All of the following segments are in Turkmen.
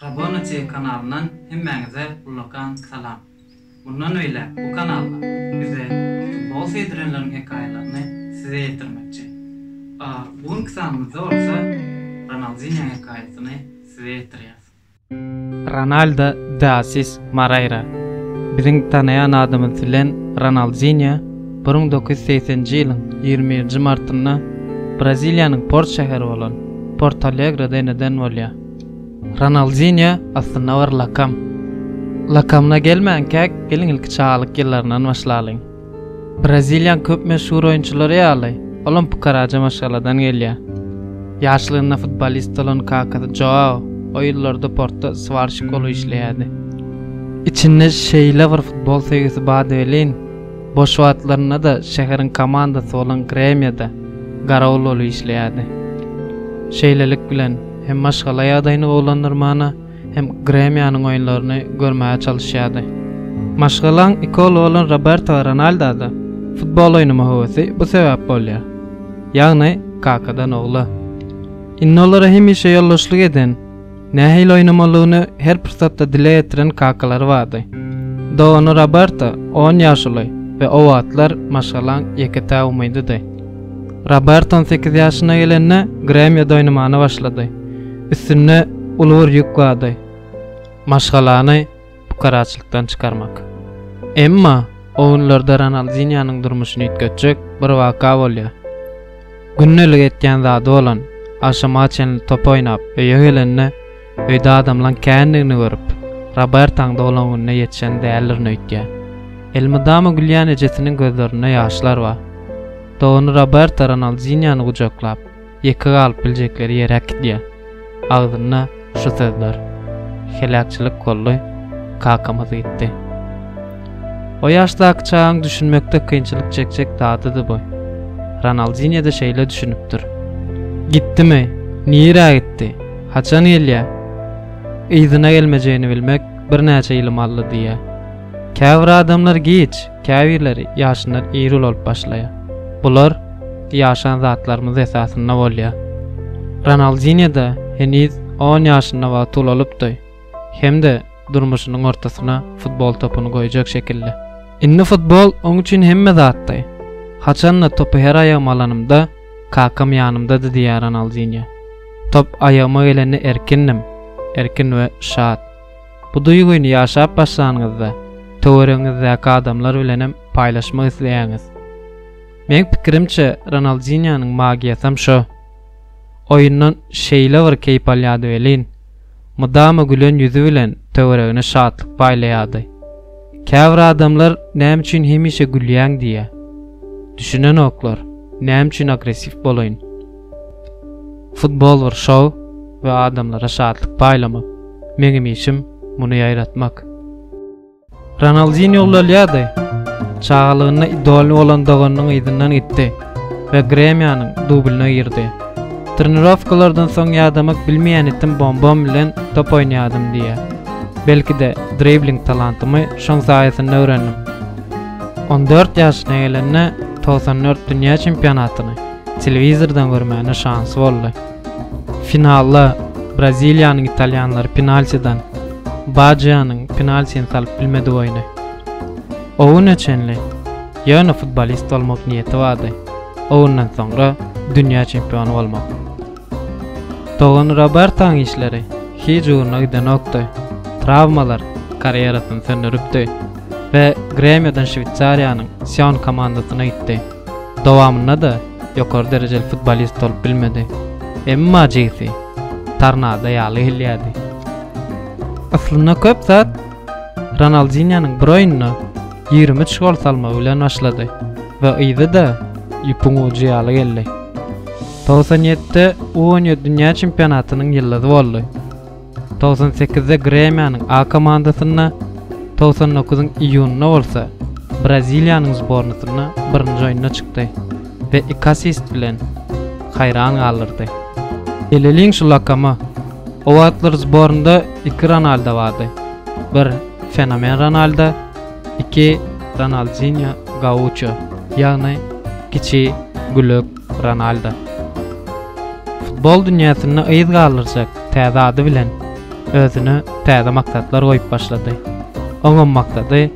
Raboneti kanalyndan hemmäňize ullakan salam. Mundan beýläk bu kanalda bize futbol söýdürenleriň hekaýalaryny size ýetirmekçi. A bu günki sanymyzda bolsa Ronaldinho hekaýasyny size ýetirýäs. Ronaldo de Assis Moreira, biziň tanaýan adymyz bilen Ronaldinýo, bir müň dokuz ýüz segsenji ýylyň ýigrimi birinji martynda Braziliýanyň port şäheri bolan Porto-Alegroda eneden bolýar. Ronaldinýo aslynda bir lakam. Lakamyna gelmänkäk, geliň ilki çagalyk ýyllaryndan başlalyň. Braziliýanyň köp meşhur oýunçylary ýaly, olam pukaraja maşgaladan gelýär. Ýaşlygynda futbolist bolan kakasy Joao o ýyllarda portda swarşik bolup işleýärdi. Içinde şeýle bir futbol söýgüsi bardy welin, boş wagtlarynda-da şäheriň komandasy bolan Gremýoda garawul bolup işleýärdi. Şeýlelik bilen, hem maşgala ýagdaýyny gowulandyrmana, hem Gremiýanyň oýunlaryny görmäge çalyşýardy. Maşgalaň iki ogly bolan Roberto Ronaldada futbol oýnama höwesi bu sebäp bolýar. Ýagny kakadan ogla. Indi olara hemişe ýoldaşlyk eden, nähili oýnamalygyny her pursatda dile getiren kakalary bardy. Dogany Roberto on ýaş uly we o wagtlar maşgalaň ýeke-tä umydydy. Roberto on sekiz ýaşyna gelende Gremiýada oýnamana başlady. Üstünde uly bir ýük bardy, maşgalany pukaraçylykdan çykarmak. Emma owunlarda Ronaldinýonyň durmuşyny üýtgetjek bir waka bolýar. Gündelik etýän zady bolan agşama çenli top oýnap öýe gelende öýde adamlaň kändigini görüp, Robertaň doglan gününe ýetişen däldirin öýtýär. Elmydama gülýän ejesiniň gözlerinde ýaşlar bar. Dogany Roberta Ronaldinýony gujaklap, Ýeke galyp biljekleri ýeri äkidýär. Agzynda şu sözler, Heläkçilik boldy, kakamyz gitdi. O ýaşdaky çagaň düşünmekde kynçylyk çekjek zadydy bu. Ronaldinýo-da şeýle düşünipdir. Gitdimi? Nirä gitdi? Haçan gelýär? Yzyna gelmejegini bilmek birnäçe ýylym aldy diýýär. Käbir adamlar giç, Käbirleri ýaşyndan ir ulanyp başlaýar. Bular ýaşan zatlarymyz esasynda bolýar. Ronaldinýo-da heniz on ýaşynda wagty ulalypdy hem-de durmuşynyň ortasyna futbol topuny goýjak şekilli. Indi futbol oň üçin hemme zatdy. Haçan-da topy her aýagyma alanymda, kakam ýanymdady diýýär Ronaldinýo. Top aýagyma gelende erkindim, erkin we şat. Bu duýgyny ýaşap başlanyňyzda, töweregiňizdäki adamlar bilenem paýlaşmak isleýäňiz. Meň pikirimçe, Ronaldinýonyň magiýasam şo. Oýundan şeýle bir keýp alýardy welin, mydama gülen ýüzi bilen töweregine şatlyk paýlaýardy. Käbir adamlar näme üçin hemişe gülýäň diýýär. Düşünenoklar, näme üçin agressiw bolaýyn. Futbol bir şou we adamlara şatlyk paýlamak. Meňem işim muny ýaýratmak. Ronaldinýo ulalýardy. Çagalygynda idoly bolan doganynyň yzyndan gitdi we Gremýonyň dublyna girdi. Trenirowkalardan soň ýadamak bilmeýän itim bombam bilen top oýnaýardym diýýär. Belki-de, dribling talantymy şoň saýasynda öwrendim. On dört ýaşyna gelende togsan dört dünýä çempionatyny, telewizordan görmäne şansy boldy. Finalda Braziliýanyň italýanlary penaltidan Bajianyň penaltini salyp bilmedi boýny. O güne çenli ýöne futbolist bolmak niýeti bardy, o günden soňra dünýä çempiony bolmak. Dogany Robertaň işleri hiç ugruna gidenokdy, trawmalar karýerasyny söndüripdi we Gremiodan Şweýsariýanyň Sion komandasyna gitdi. Dowamynda-da ýokary derejeli futbolist bolup bilmedi. Emma jigsi tornado ýaly gelýärdi. Yslynda köp zat Ronaldinýonyň bir oýunda ýigrimi üç gol salmagy bilen başlady we yzy-da ýüpüň ujy ýaly geldi. Togsan ýedide U on ýedi dünýä çempionatynyň ýyldyzy boldy. Togsan sekizde Gremiýanyň A komandasynda, togsan dokuzyň iýunynda bolsa Braziliýanyň zbornasynda birinji oýnuna çykdy we iki assist bilen haýran galdyrdy. Beleliň şu lakamy, o wagtlar zbornda iki Ronaldo bardy, bir Fenomen Ronaldo, iki Ronaldinýo Gauço, ýagny Kiçi gülek. Ronaldo. Futbol dünýäsinde yz galdyrjak täze ady bilen özüne täze maksatlar goýup başlady. Oňam maksady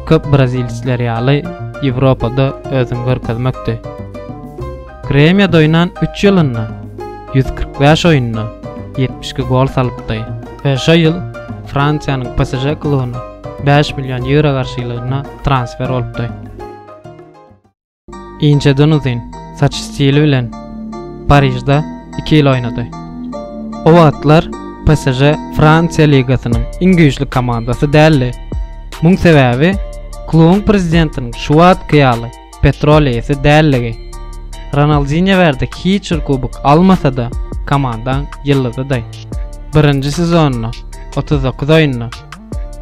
köp brazilsler ýaly Ýewropada özüni görkezmekdi. Gremiýada oýnan üç ýylynda ýüz kyrk bäş oýunda ýetmiş iki gol salypdy we şo ýyl Fransiýanyň PSŽ klubyna bäş million ýewro garşylygynda transfer bolupdy. Inçeden uzyn saç stili bilen Parižde iki ýyl oýnady. O wagtlar PSŽ Fransiýa ligasynyň iň güýçli komandasy däldi. Muň sebäbi klubuň prezidentiniň şu wagtky ýaly petrol eýesi däldigi. Ronaldinýo bärde hiç bir kubok almasa-da, komandaň ýyldyzydy. Birinji sezonynda otuz dokuz oýunda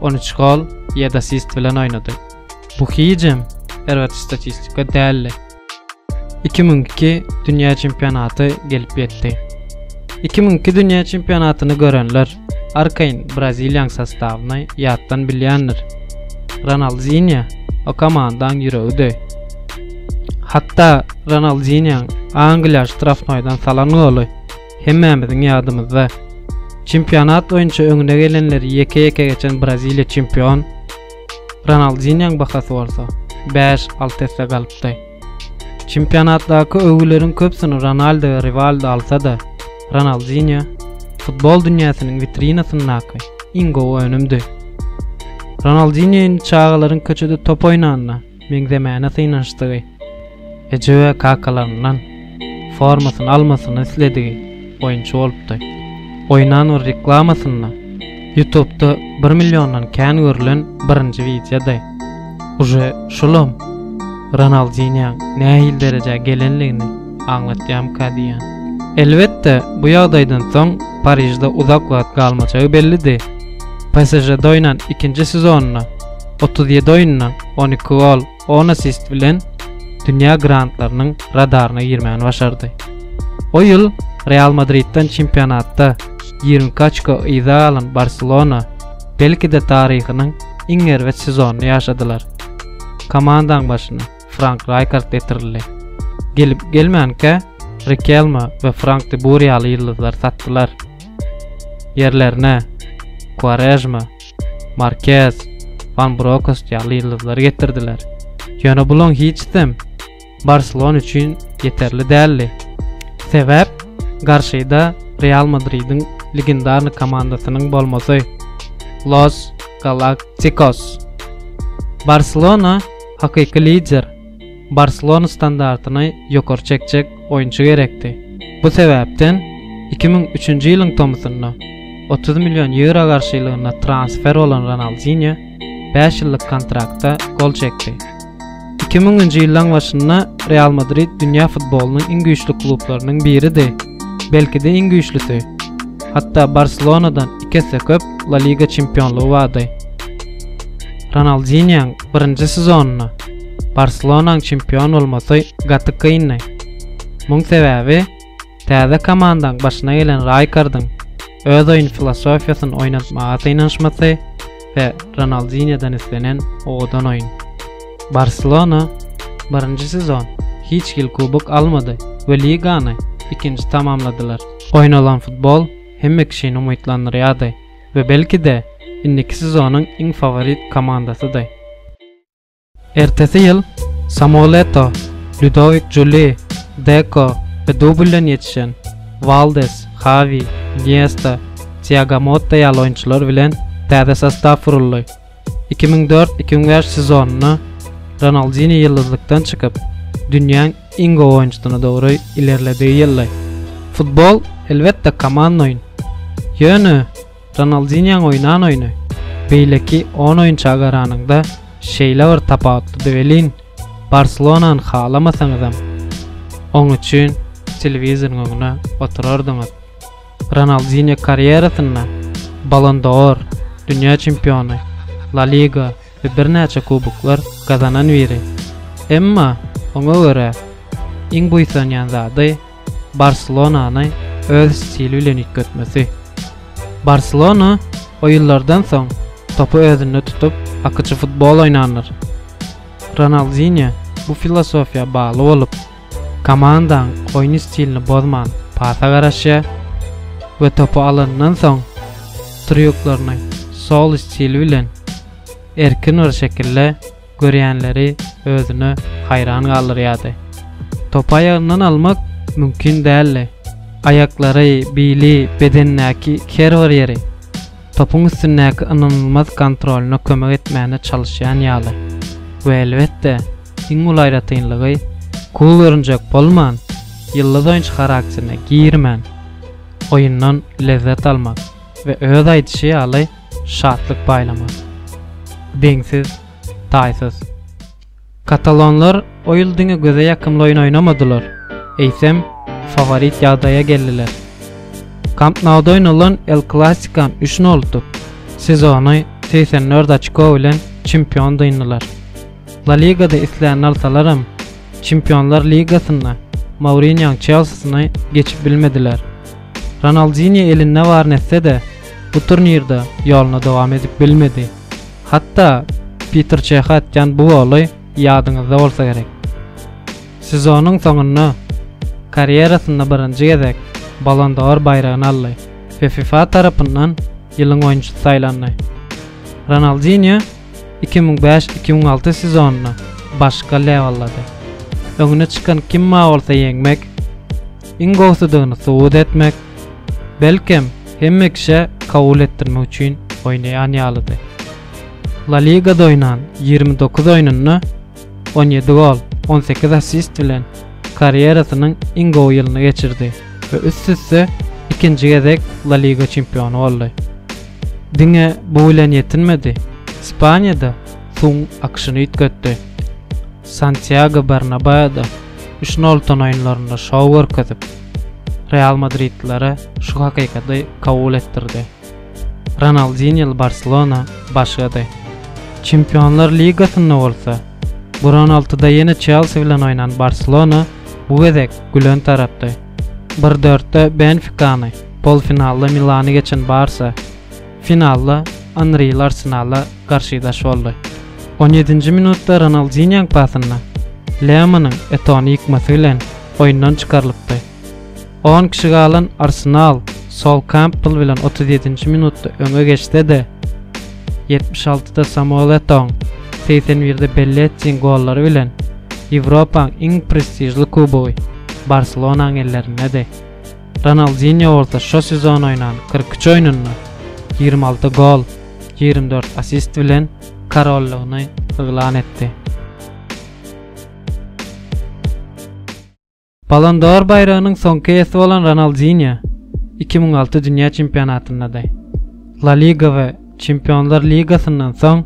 on üç gol, ýedi assist bilen oýnady. Bu hijem erbet statistika däldi. 2002 dünýä çempionaty gelip ýetdi. 2002 dünýä çempionatyny görenler arkaýyn braziliýaň sostawyny ýatdan bilýändir. Ronaldinýo o komandaň ýüregidi. Hatda Ronaldinýoň Angliýa ştrafnoýdan salan goly hemmämiziň ýadymyzda. Çempionat boýunça öňüne gelenleri ýeke-ýeke geçen Braziliýa çempion Ronaldinýoň bahasy bolsa, bäş-alty esse galypdy. Çempionatdaky öwgüleriň köpüsini Ronaldo we Riwaldo alsa-da, Ronaldinýo futbol dünýäsiniň witrinasyndaky iň gowy önümdi. Ronaldinýo indi çagalaryň köçede top oýnanda, meňzemäne synanyşdygy, eje we kakalaryndan formasyny almasyny isledigi oýunçy bolupdy. Oýnan bir reklamasynda ýutubda bir milliondan kän görülen birinji wideody. Uje şulam Ronaldinýoň nähili derejä gelenligini aňlatýamyka diýýän. Elbetde, bu ýagdaýdan soň Parižde uzak wagt galmajagy bellidi. PSŽ-de oýnan ikinji sezonynda otuz ýedi oýunda on iki gol, on assist bilen dünýä grantlarynyň radaryna girmegini başardy. O ýyl Real Madridden çempionatda ýigrimi iki oçko yza galan Barselona belki-de taryhynyň iň erbet sezonyny ýaşadylar. Komandaň başyna Frank Raýkard getirildi. Gelip-gelmänkä Rikelme we Frank de Bur ýaly ýyldyzlary satdylar. Ýerlerine Kuarejma, Markez, Van Brokost ýaly ýyldyzlary getirdiler. Ýöne bularyň hiçsem Barselona üçin ýeterli däldi. Sebäp garşyda Real Madridiň legendarny komandasynyň bolmasy Los Galaktikos. Barselona hakyky lider Barselona standartyny ýokary çekjek oýunçy gerekdi. Bu sebäpden iki müň üçünji ýylyň tomusynda otuz million ýewro garşylygynda transfer bolan Ronaldinýo bäş ýyllyk kontrakta gol çekdi. Iki müňünji ýyllaň başynda Real Madrid dünýä futbolynyň iň güýçli klublarynyň biridi, belki-de iň güýçlüsi. Hatda Barselonadan iki esse köp La Liga çempionlygy bardy. Ronaldinýoň birinji sezonynda Barselonaň çempion bolmasy gaty kyndy. Muň sebäbi täze komandaň başyna gelen Raýkardyň öz oýun filosofiýasyny oýnatmaga synanyşmasy we Ronaldinýodan islenen owadan oýun. Barselona birinji sezon hiç hil kubok almady we ligany ikinji tamamladylar. Oýnalan futbol hemme kişini umytlandyrýardy we belki-de indiki sezonyň iň faworit komandasydy. Ertesi ýyl Samuoletto, Ludowik Juli, Deko we Dubl bilen ýetişen Waldes, Hawi, Niesta, Tiago Motta ýaly oýunçylar bilen täze sostaw guruldy. Iki müň dört, iki müň bäş sezonynda Ronaldinýo ýyldyzlykdan çykyp, dünýäň iň gowy oýunçysyna dogry ilerledigi ýyldy. Futbol, elbetde, komanda oýun. Ýöne Ronaldinýoň oýnan oýny beýleki on oýunça garanyňda şeýle bir tapawutlydy welin, Barselonany halamasaňyzam, oň üçin telewizoryň öňüne oturardyňyz. Ronaldinýo karýerasynda Ballon d'Or, dünýä çempiony, La Liga we birnäçe kuboklar gazanan biri. Emma oňa görä iň buýsanýan zady, Barselonany öz stili bilen üýtgetmesi. Barselona oýunlardan soň topy özünde tutup, akyjy futbol oýnandyr. Ronaldinýo bu filosofiýa bagly bolup, komandaň oýun stilini bozman pasa garaşýar we topy alandan soň trýuklaryny sol stili bilen erkin bir şekilde görýänleri özüne haýran galdyrýardy. Topy aýagyndan almak mümkin däldi. Aýaklary, bili, bedenindäki her bir ýeri topuň üstündäki ynanylmaz kontrolyna kömek etmäne çalyşýan ýaly we elbetde, iň uly aýratynlygy, cool görünjek bolman, ýyldyz oýunçy charakterine girmän, oýundan lezzet almak we öz aýdyşy ýaly, şatlyk paýlamak deňsiz, taýsyz. Katalonlar o ýyl diňe göze ýakymly oýun oýnamadylar, eýsem, faworit ýagdaýa geldiler. Kamp Nouda oýnalan El Klasiko üç noldyk sezony segsen dört oçko bilen çempion dyndylar. La Ligada islänini alsalaram, Çempionlar ligasynda Mourinýoň Çelsisini geçip bilmediler. Ronaldinýo elinde baryny etse-de, bu turnirde ýoluna dowam edip bilmedi. Hatda Piter Çehe atýan bu goly ýadyňyzda bolsa gerek. Sezonyň soňunda karýerasynda birinji gezek Ballon d'Or baýragyny aldy we fifa tarapyndan ýylyň oýunçysy saýlandy. Ronaldinýo iki müň bäş, iki müň alty sezonyny başga lewellady. Öňüne çykan kimma bolsa ýeňmek, iň gowusydygyny subut etmek, belkem, hemme kişä kabul etdirmek üçin oýnaýan ýalydy. La Ligada oýnan ýigrimi dokuz oýnunda on ýedi gol, on sekiz assist bilen karýerasynyň iň gowy ýylyny geçirdi we üst-üste ikinji gezek La Liga çempiony boldy. Diňe bu bilen ýetinmedi, Ispaniýada suwuň akyşyny üýtgetdi. Santýago Bernabaoda üç nol utan oýunlarynda şou görkezip, realmadridlilere şu hakykaty kabul etdirdi. Ronaldinýol Barselona başlady. Çempionlar ligasynda bolsa, bir on altyda ýene Çelsi bilen oýnan Barselona bu gezek gülen tarapdy. Bir dörtde Benfikany, polfinalda Milany geçen Barsa, finalda Anrili Arsenala garşydaş boldy. On ýedinji minutda Ronaldinýoň pasynda Lemanyň Etony ýykmasy bilen oýundan çykarylypdy. On kişi galan Arsenal Sol Kampbell bilen otuz ýedinji minutda öňe geçse-de, ýetmiş altyda Samuel Etoň, segsen birde Bellettiň gollary bilen Ýewropaň iň prestižli kubogy Barselonaň ellerindedi. Ronaldinýo bolsa şo sezon oýnan kyrk üç oýnunda ýigrimi alty gol, ýigrimi dört assist bilen korollygyny yglan etdi. Ballon d'Or baýragynyň soňky eýesi bolan Ronaldinýo iki müň alty dünýä çempionatyndady. La Liga we Çempionlar ligasyndan soň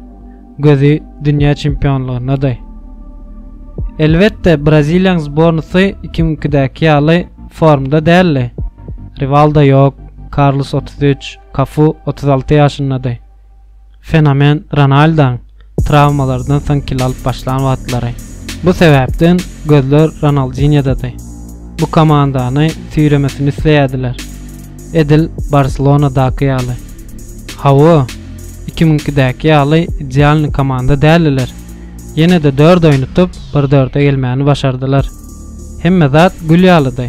gözi dünýä çempionlygyndady. Elbetde, braziliýaň zbornysy iki müň ikidäki ýaly formda däldi. Riwaldo ýok, Karlos otuz üç, Kafu otuz alty ýaşyndady. fenomen Ronaldoň trawmalardan soň kilo alyp başlan wagtlary. Bu sebäpden gözler Ronaldinýodady. Bu komandany süýremesini isleýärdiler. Edil Barselonadaky ýaly. Hawa, iki müňkidäki ýaly idealny komanda däldiler. Ýene-de dört oýnutyp, bir dörde gelmäni başardylar. Hemme zat gül ýalydy.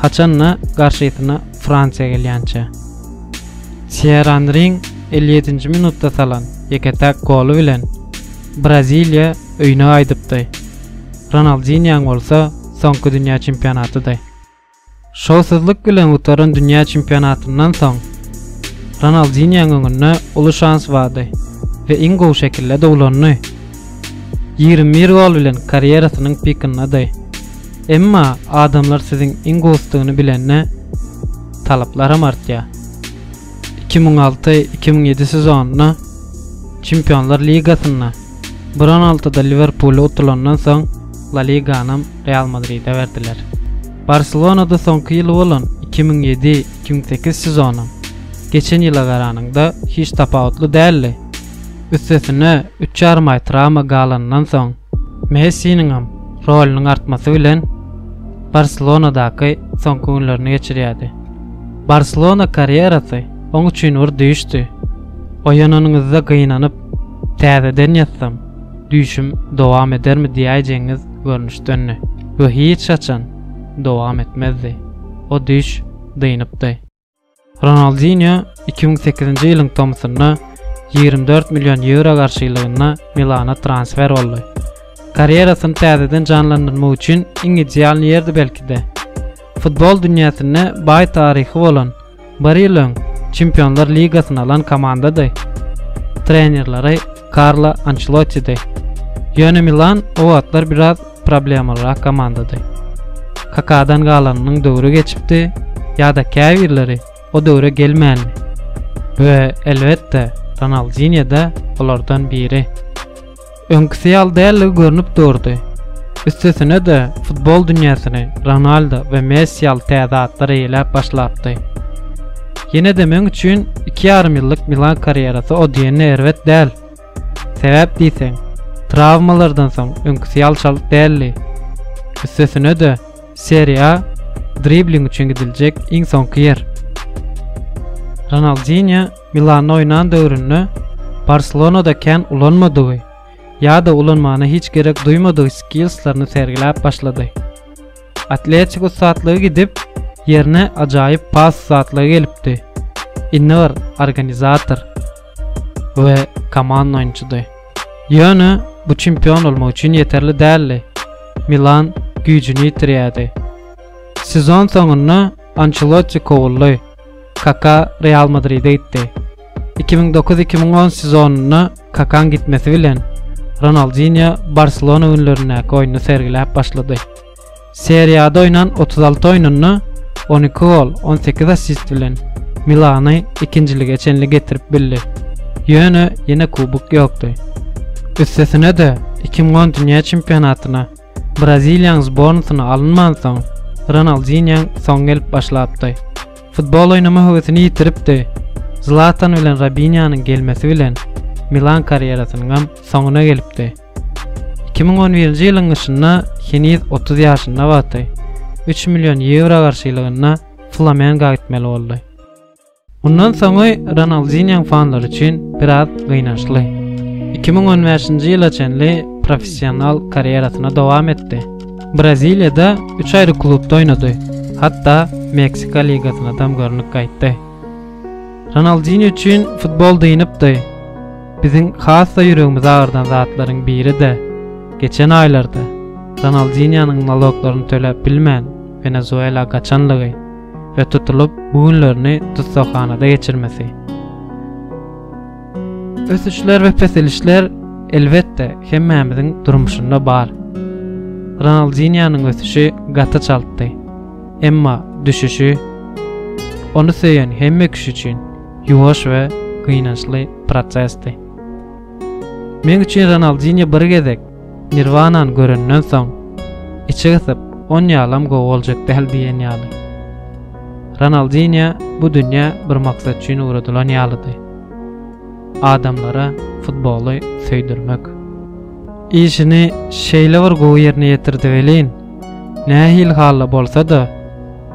Haçan-da garşysyna Fransiýa gelýänçä. Sýer Anriň elli ýedinji minutda salan ýeke-täk goly bilen Braziliýa öýüne gaýdypdy. Ronaldinýoň bolsa soňky dünýä çempionatydy. Şowsuzlyk bilen gutaran dünýä çempionatyndan soň Ronaldinýoň öňünde uly şans bardy we iň gowy şekilde dowlandy. Ýigrimi bir gol bilen karýerasynyň pikindady. Emma adamlar siziň iň gowusydygyny bilende, talaplaram artýar. Iki müň alty, iki müň ýedi sezonynda Çempionlar ligasynda bir on altyda Liwerpule utulandan soň, La Liganam Real Madride berdiler. Barselonada soňky ýyly bolan iki müň ýedi, iki müň sekiz sezonam, geçen ýyla garanyňda, hiç tapawutly däldi. Üstesine üç ýarym aý trawma galanyndan soň Messiniňem rolunyň artmasy bilen Barselonadaky soňky günlerini geçirýärdi. Barselona karýerasy oň üçin bir düýşdi. Oýananyňyzda gynanyp, täzeden ýatsam, düýşüm dowam edermi diýäýjegiňiz görnüşdendi we hiç haçan dowam etmezdi. O düýş dynypdy. Ronaldinýo iki müň sekizinji ýylyň tomusynda ýigrimi dört million ýewro garşylygynda Milana transfer boldy. Karýerasyny täzeden janlandyrmak üçin iň ideal ýerdi belki-de. Futbol dünýäsinde baý taryhy bolan, bir ýyl öň Çempionlar ligasyny alan komandady. Trenerleri Karlo Ançelottidi. Ýöne Milan o wagtlar biraz problemalyrak komandady. Kakadan galanynyň döwri geçipdi ýa-da käbirleri o döwre gelmändi. We, elbetde, Ronaldinýo-da olardan biri. Öňküsi ýaly däldigi görnüp durdy. Üstesine-de, futbol dünýäsini Ronaldo we Messi ýaly täze atlar eýeläp başlapdy. Ýene-de meň üçin iki ýarym ýyllyk Milan karýerasy o diýende erbet däl. Sebäp diýseň, trawmalardan soň öňküsi ýaly çalt däldi. Üstesine-de, Serie A dribling üçin gidiljek iň soňky ýer. Ronaldinýo Milanda oýnan döwründe Barselonada kän ulanmadygy ýa-da ulanmagyna hiç gerek duýmadygy skillslaryny sergiläp başlady. Atletik ussatlygy gidip, ýerine ajaýyp pas ussatlygy gelipdi. Indi bir organizator we komanda oýunçydy. Ýöne bu çempion bolmak üçin ýeterli däldi. Milan güýjüni ýitirýärdi. Sezon soňunda Ançelotti kowuldy. Kaka Real Madride gitdi. Iki müň dokuz-iki müň on sezonynda Kakaň gitmesi bilen, Ronaldinýo Barselona günlerindäki oýnuny sergiläp başlady. Serie A-da oýnan otuz alty oýnunda on iki gol, on sekiz assist bilen Milany ikinjilige çenli getirip bildi. Ýöne ýene kubok ýokdy. Üstesine-de, iki müň on dünýä çempionatyna Braziliýanyň zbornasyna alynmansoň, Ronaldinýoň soňy gelip başlapdy. Futbol oýnama höwesini ýitiripdi. Zlatan bilen Robinýonyň gelmesi bilen Milan karýerasynyňam soňuna gelipdi. Iki müň on birinji ýylyň gyşynda heniz otuz ýaşynda wagty, üç million ýewro garşylygynda Flamengoa gitmeli boldy. Mundan soňy Ronaldinýoň fanlary üçin biraz gynançly. Iki müň on bäşinji ýyla çenli professional karýerasyny dowam etdi. Braziliýada üç aýry klubda oýnady, hatda Meksika ligasynadam görnüp gaýtdy. Ronaldinýo üçin futbol dynypdy. Biziň has-da ýüregimizi agyrdan zatlaryň biri-de, geçen aýlarda Ronaldinýonyň naloklaryny töläp bilmän, Wenezuela gaçanlygy. we tutulyp bu günlerini tussaghanada geçirmesi. Ösüşler we peselişler elbetde hemmämiziň durmuşynda bar. Ronaldinýanyň ösüşi gaty çaltdy. Emma düşüşi ony söýen hemme kişi üçin ýuwaş we gynançly prosesdi. Men üçin Ronaldinýa bir gezek Nirwanany görenden soň içi gysyp on ýalam gowy boljak däl diýen ýaly. Ronaldinýa bu dünýä bir maksat üçin ugradylan ýalydy. Adamlara futboly söýdürmek. Işini şeýle bir gowy ýerine ýetirdi welin, nähili halda bolsa-da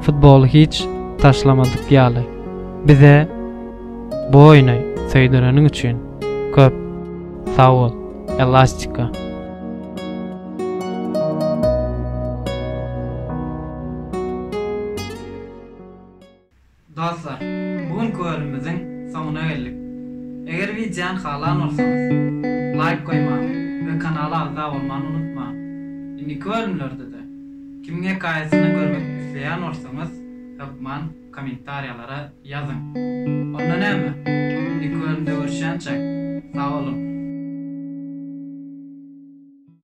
futboly hiç taşlamadyk ýaly. Bize bu oýny söýdüreniň üçin köp sag bol. Elastika. Dostlar, bu günki bölümimiziň soňuna geldik. Eger wideony halan bolsaňyz, laýk goýmagy we kanala agza bolmany unutmaň. Indiki bölümlerde-de, kim hekaýasyny görmek isleýän bolsaňyz, hökman. Kommentariýalara ýazyň. Onda näme? Indi köründe görüşýänçäk. Sag boluň.